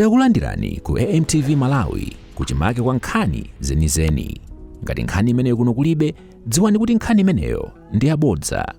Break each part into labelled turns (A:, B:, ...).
A: Takulandirani ku AMTV Malawi kuchimake kwa nkhani zenizeni. Ngati nkhani imeneyo kuno kulibe, dziwani kuti nkhani imeneyo ndi yabodza.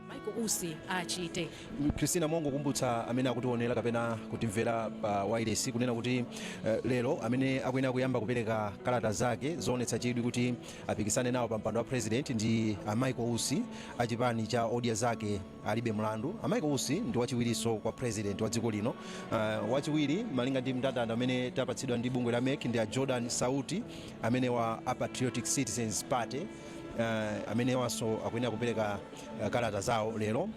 A: Michael Usi
B: achite. Christina
C: mongokumbutsa amene akutiwonera kapena kutimvera pa wireless kunena kuti eh, lero amene akuyenera kuyamba kupereka kalata zake zoonetsa chidwi kuti apikisane nawo pa mpando wa president ndi a Michael Usi a chipani cha Odya Zake alibe mlandu. A Michael Usi ndi wachiwirinso kwa President wa dziko lino. Uh, wachiwiri malinga ndi mndandanda umene tapatsidwa ndi bungwe la MEC ndi a Jordan Sauti amenewa a Patriotic Citizens Party uh, amenewanso akuyenera kupereka uh, kalata zawo lero.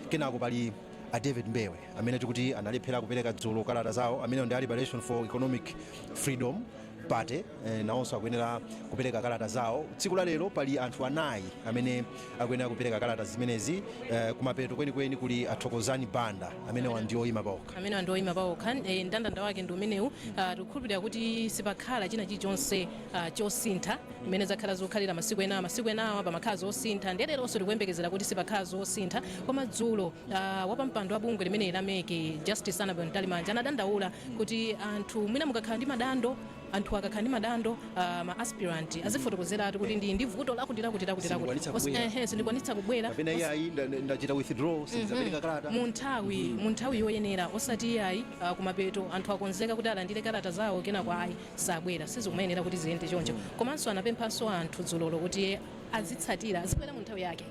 C: Kenako pali a David Mbewe amene tikuti analephera kupereka dzulo kalata zawo, amenewo ndi a Liberation for Economic Freedom. party eh, nawonso akuyenera kupereka kalata zawo tsiku la lero pali anthu anayi amene akuyenera kupereka kalata zimenezi eh, kumapeto kwenikweni kuli athokozani banda amenewa ndi oyima paokha amenewa ndi oyima
B: paokha eh, ndandanda wake ndi umenewu Ah, tikukhulupirira kuti sipakhala china chilichonse ah, chosintha mmene zakhala zokhalira masiku enawa masiku enawa pamakhala zosintha ndiye leronso tikuyembekezera kuti sipakhala zosintha koma dzulo a Wapampando wa bungwe limeneli la mec, Justice Annabel Mtalimanja anadandaula kuti anthu mwina mukakhala ndi madandaulo, anthuwa akakhala ndi madandaulo, ma aspirant azifotokozeratu kuti ndili ndi vuto lakuti lakuti lakuti lakuti Sindikwanitsa Osa- kubwera. ehe, sindikwanitsa kubwera kapena iyayi nda-
C: nda- ndachita withdraw sindidzapereka kalata mu nthawi
B: mu nthawi yoyenera osati iyayi ah, kumapeto anthu akonzeka kuti alandire kalata zawo kenako ayi sabwera sizikumayenera kuti ziyende choncho komanso anapemphanso anthu dzulolo kuti azitsatira azibwera mu nthawi yake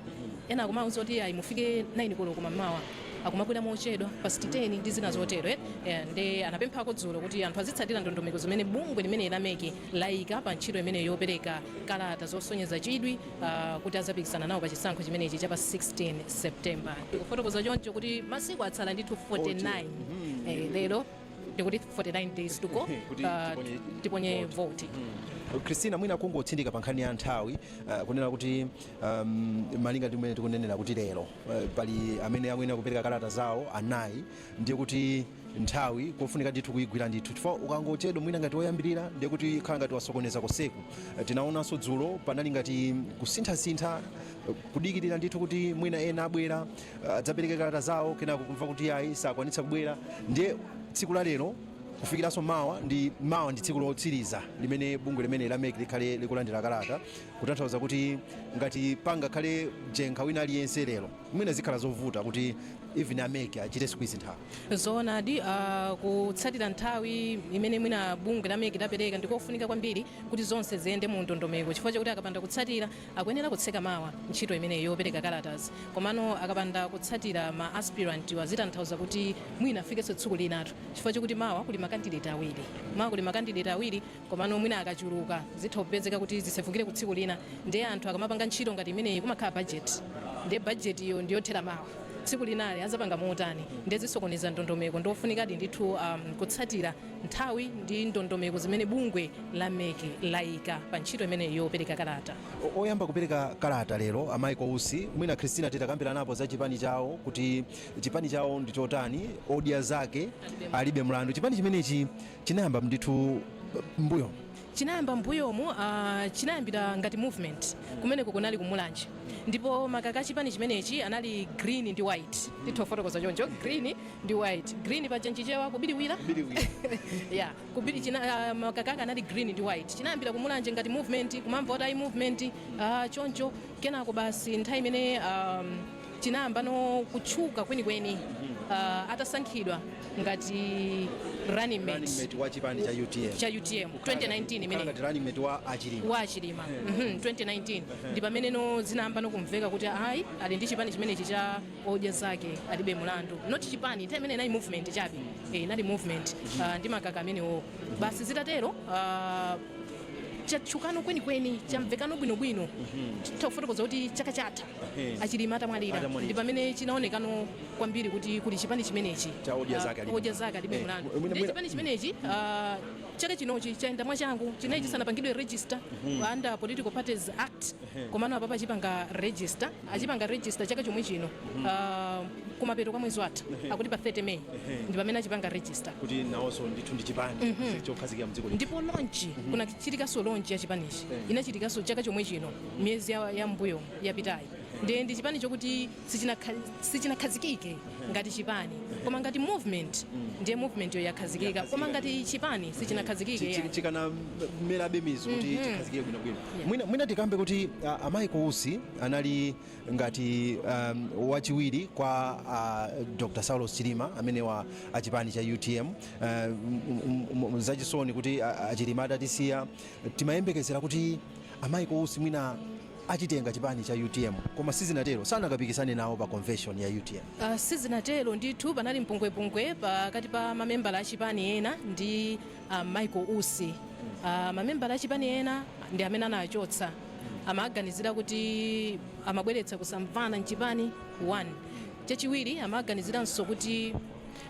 B: ena akumawuza kuti ayi mufike 9 koloko mamawa akumabwera mochedwa past 10 ndi zina zotero eh? Eh, nde anapemphako dzulo kuti anthu azitsatira ndondomeko zimene bungwe limene la mec layika pa ntchito imene yopereka kalata zosonyeza chidwi ah, kuti azapikisana nawo pa chisankho chimenechi cha pa 16 september tikufotokoza choncho kuti masiku atsala ndithu 49 eh, lero ndikuti 49 days to go Kuti uh, tiponye tiponye vote christina
C: mwina kungotsindika pa nkhani ya nthawi uh, kunena kuti um, malinga ndi mmene tikunenera kuti lero uh, pali amene akuyenera kupereka kalata zawo anayi ndiye kuti nthawi kofunika ndithu kuyigwira ndithu chifukwa ukangochedwa mwina ngati woyambirira ndiye kuti ukhala ngati wasokoneza konseku uh, tinaonanso dzulo panali ngati kusinthasintha uh, kudikirira ndithu kuti mwina ena abwera adzapereke kalata zawo kenako kumva kuti ayi sakwanitsa kubwera ndiye tsiku la lero kufikiranso mawa ndi mawa ndi tsiku lotsiriza limene bungwe limene la mec likhale likulandira kalata kutanthauza kuti ngati pangakhale jenkha wina aliyense lero mwina zikhala zovuta kuti even a mec achite squeeze nthawi zoonadi ah,
B: kutsatira nthawi imene mwina bungwe la mec lapereka ndikofunika kwambiri kuti zonse ziyende mu ndondomeko chifukwa chakuti akapanda kutsatira Akuyenera kutseka mawa ntchito imeneyi yopereka kalatazi komano akapanda kutsatira ma aspirant'wa zitanthauza kuti mwina afikenso tsiku linatu chifukwa chokuti mawa kuli ma candidate awiri mawa kuli ma candidate awiri komano mwina akachuluka zitha kupezeka kuti zisefukire ku tsiku lina ndiye anthu akamapanga ntchito ngati imeneyi kumakhala budget ndiye budget yo ndiyothera mawa tsiku linali azapanga motani ndiye zisokoneza ndondomeko ndiofunikadi ndithu kutsatira nthawi ndi ndondomeko zimene bungwe la mec laika pa ntchito imeneyi yopereka kalata. Oyamba kupereka
C: kalata lero a Michael Usi, mwina Christina titakambiranapo za chipani chawo kuti chipani chawo ndi chotani, odya zake alibe mlandu, chipani chimenechi chinayamba ndithu mmbuyomu.
B: chinayamba mmbuyomu chinayambira ngati movement kumeneko kunali ku Mulanje ndipo makaka achipani chimenechi anali green ndi white titha kufotokoza choncho green ndi white green paja nchichewa kubiriwira yeah kubiri ah, makaka ake anali green ndi white chinayambira ku Mulanje ngati movement kumamva kuti ayi movement ah, choncho kenako basi nthawi imene um, Chinayambano kutchuka kwenikweni uh, atasankhidwa ngati running mate running mate wa chipani cha UTM
C: cha UTM 2019 imene ngati
B: running mate wa Achilima
C: wa Achilima mm -hmm,
B: 2019 ndi pameneno zinayambano kumveka kuti ayi ali ndi chipani chimenechi cha odya zake alibe mulandu not chipani time imene inali movement chabe eh inali movement uh, ndi makaka amenewo basi zitatero uh, chatchukano kwenikweni chamvekano bwinobwino titha kufotokoza kuti chaka chatha Ehe. achilima atamwalira Atamwalira. ndi pamene chinaonekano kwambiri kuti kuli chipani chimenechi Cha odya zake alibe. Ah,
C: odya zake alibe Eh, mlandu mwina- ndi mwina-
B: chipani chimenechi ah, chaka chinochi chayenda mwachangu chinali chisanapangidwe register under political parties act komano apapa achipanga register achipanga register chaka chomwe chino ah, kumapeto kwa mwezi watha akuti pa 30 may ndi pamene achipanga register kuti nawonso ndithu
C: ndi chipani chokhazikika mdziko lino ndipo launch
B: kunachitikaso launch ya chipanichi inachitikaso chaka chomwe chino miyezi ya, ya mbuyo yapitayi ndi ndi chipani chokuti sichinakha- sichinakhazikike ngati chipani koma ngati movement ndiye movement yo yakhazikika koma ngati chipani sichinakhazikike Chi- chi- yani. chikanamerabe
C: mizu kuti chikhazikike bwinobwino mwina, mwina tikambe kuti uh, a Michael Usi anali ngati um, wachiwiri kwa uh, dr saulos chilima amenewa a chipani cha utm uh, m- m- m- zachisoni kuti uh, achilima atatisiya timayembekezera kuti A Michael Usi mwina achitenga chipani cha utm koma sizinatero sanakapikisane nawo pa convention ya utm. Uh, sizinatero ndithu
B: panali mpungwepungwe pakati pa mamembala a chipani ena ndi a Michael Usi uh, mamembala a chipani ena ndi amene anachotsa amaganizira kuti amabweretsa kusamvana mchipani 1 chachiwiri amaganiziranso kuti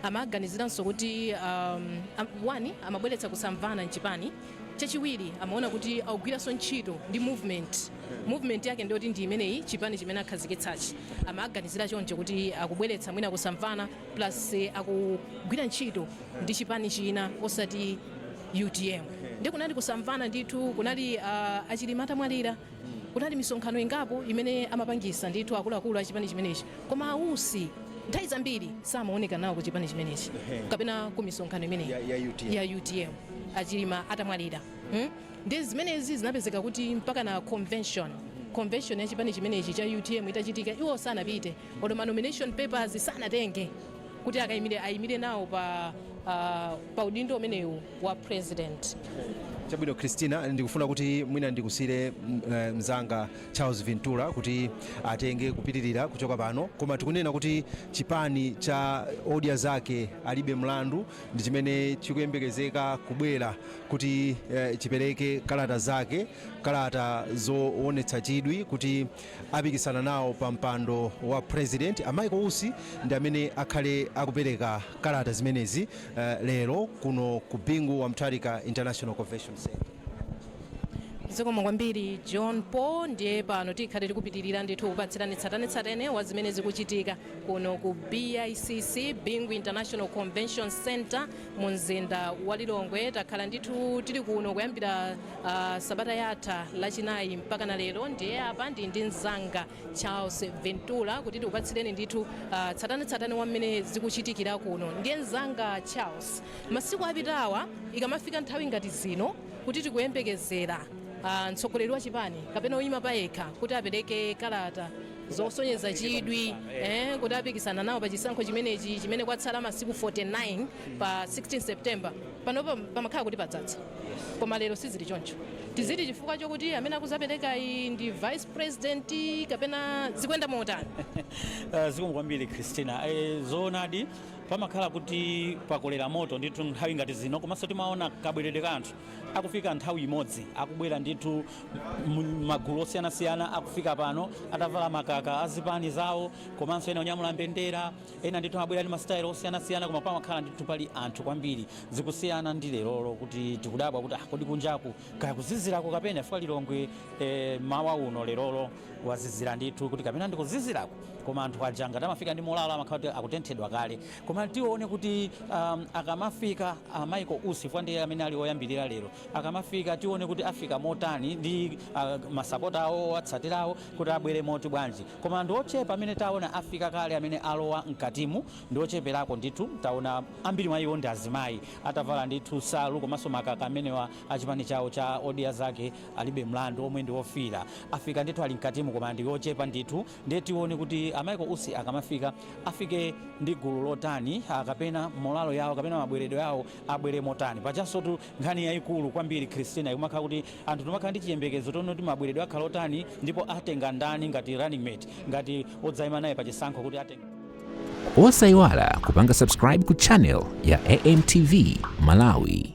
B: Amaganiziranso kuti, um, 1 amabweretsa kusamvana mchipani, chachiwiri amaona kuti akugwiranso ntchito ndi movement, movement yake ndiyoti ndi imeneyi chipani chimene akhazikitsachi, amaganizira choncho kuti akubweretsa mwina kusamvana plus akugwira ntchito ndi chipani china osati utm, ndiye kunali kusamvana ndithu, kunali, uh, a Chilima atamwalira. Kunali misonkhano ingapo imene amapangisa ndithu akuluakulu a chipani chimenechi koma a Usi nthawi zambiri samawoneka nawo ku chipani chimenechi kapena ku misonkhano imeneyi ya utm a Chilima atamwalira ndiye zimenezi zinapezeka kuti mpakana convention ya chipani chimenechi cha utm itachitika iwo sanapite olo ma nomination papers sanatenge kuti akayimire nawo pa udindo umenewu. wa president.
C: Chabwino Christina, ndikufuna kuti mwina ndikusiyire mm, eh, mzanga Charles Ventura kuti atenge kupitirira kuchoka pano, koma tikunena kuti chipani cha odya zake alibe mlandu ndi chimene chikuyembekezeka kubwera kuti eh, chipereke kalata zake, kalata zoonetsa chidwi kuti apikisana nawo pa mpando wa president a Michael Usi ndi amene akhale akupereka kalata zimenezi lero kuno ku Bingu wa Mutharika International Convention Centre.
B: Zikomo kwambiri John Paul ndiye pano tikhale tikupitirira ndithu kupatsirani tsatanetsatane wa zimene zikuchitika kuno ku BICC Bingu International Convention Centre mu mzinda wa Lilongwe takhala ndithu tili kuno kuyambira Uh, sabata yatha lachinayi mpakana lero ndiye apa ndi ndi mzanga Charles Ventura kuti tikupatsireni ndithu uh, tsatanetsatane wa mmene zikuchitikira kuno. Ndiye mzanga Charles, masiku apitawa ikamafika nthawi ngati zino kuti tikuyembekezera uh, mtsogoleri wa chipani kapena oyima payekha kuti apereke kalata zosonyeza chidwi eh, kuti apikisana nawo pa chisankho chimenechi chimene kwatsala masiku 49 pa 16 September panopa pamakhala kuti padzadza koma lero sizili choncho tiziti chifukwa chokuti amene akuzaperekayi ndi vice president kapena zikuyenda motani Eh, zikomo
D: kwambiri christina Eh, zoonadi pamakhala kuti pakolera moto ndithu nthawi ngati zino komanso timaona kabweredwe ka anthu akufika nthawi imodzi akubwera ndithu m- magulu osiyanasiyana akufika pano atavala makaka azipani zawo komanso ena onyamula mbendera Ena ndithu amabwera ndi masitayilo osiyanasiyana koma pamakhala ndithu pali anthu kwambiri. Zikusiyana ndi lerolo kuti tikudabwa kuti ah kodi kunjaku kaya kuzizirako kapena chifukwa Lilongwe eh mmawa uno lerolo kwazizira ndithu kuti kapena ndi kuzizirako koma anthu aja ngati amafika ndi morale amakhala kuti akutenthedwa kale. Koma tione kuti ahm akamafika a Michael Usi chifukwa ndi amene ali oyambirira lero akamafika tione kuti afika motani ndi ah masapota awo, owatsatira awo kuti abwere moti bwanji. Koma ndi ochepa amene taona afika kale amene alowa mkatimu ndi ocheperako ndithu taona ambiri mwa iwo ndi azimayi atavala ndithu nsalu komanso makaka amenewa a chipani chawo cha Odya Zake Alibe Mlandu omwe ndi ofiira afika ndithu ali mkatimu koma ndi ochepa ndithu ndiye tione kuti a Michael Usi akamafika afike ndi gulu lotani kapena molalo yawo kapena mabweredwe awo abwere motani pajanso tu Nkhani yaikulu kwambiri Christina ikumakhala kuti anthu timakhala ndi chiyembekezo tione kuti mabweredwe akhala otani ndipo atenga ndani ngati running mate ngati odzaima naye pa chisankho kuti atenga
A: Osaiwala kupanga subscribe ku channel ya AMTV Malawi.